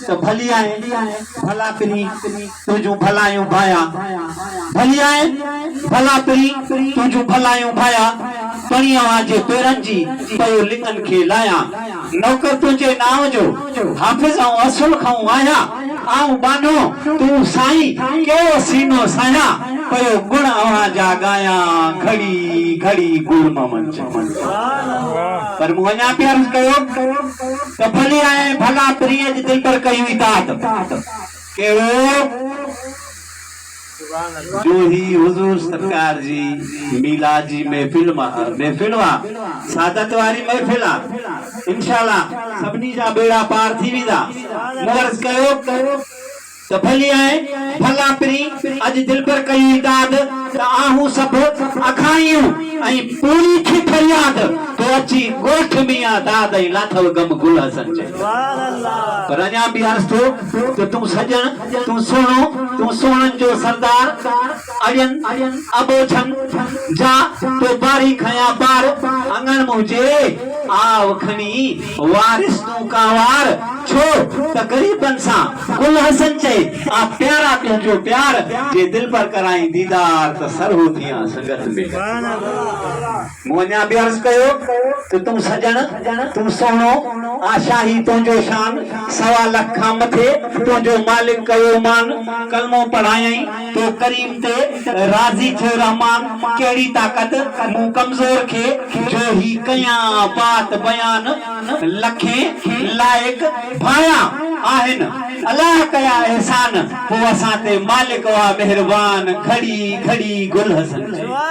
ته ڀلي آهي ڀلا پرين تنهنجون ڀلايون ڀايا ڀلي آهي ڀلا پرين تنهنجون ڀلايون ڀايا پرين اوهان جي پيرن جي پيو لڱن کي لايا نوڪر تنهنجي نانء جو حافظ آئون اصل کانئون آهيان آئون ٻانهو تون سائين ڪهڙو سينو سهيان پيو گڻ اوهان جا ڳايا گهڙي گهڙي گل ممن چمن پر مون اڃا به عرض ڪيو ته ڀلي آئين ڀلا پرينء جي دلبر ڪئي هئي داد. ڪهڙو؟ جو هي حضور سرڪار جي ميلاد جي محفل محفل اها سعادت واري محفل آ انشاء الله سڀني جا ٻيڙا پار ٿي ويندا مون عرض ڪيو ته ڀلي ائين ڀلا پرين اڄ دلبر ڪئي هئي داد ته آهون سڀ اکاڻيون ۽ پوري ٿي فرياد تو اچي ڳوٺ ميان داد ۽ لاٿو غم گل حسن جي پر اڃا به عرض ٿو ته تون سڄڻ تون سهڻو تون سهڻن جو سردار. اڙين ابوجھن جا تو باري کنيا بار اڱڻ منهنجي آء کڻي وارث تون ڪانوار ڇو ته غريبن سان گل حسن چئي آء پيارا تنهنجو پيار جي دلبر ڪرائين ديدار ته سرهو ٿيان سنگت ۾. مون اڃا به عرض ڪيو ته تون سڄڻ، تون سهڻو، آشا هي تنهنجو شان، سوا لک کان مٿي تنهنجو مالڪ ڪيو مان، ڪلمو پڙهايائين تو ڪريم تي راضي ٿيو رحمان، ڪهڙي طاقت مون ڪمزور کي جو هي ڪيان بات بيان، لکين لائق ڀانيا آهن الله ڪيا احسان، پوء اسان تي مالڪ آ مهربان، گهڙي گهڙي گل حسن چئي.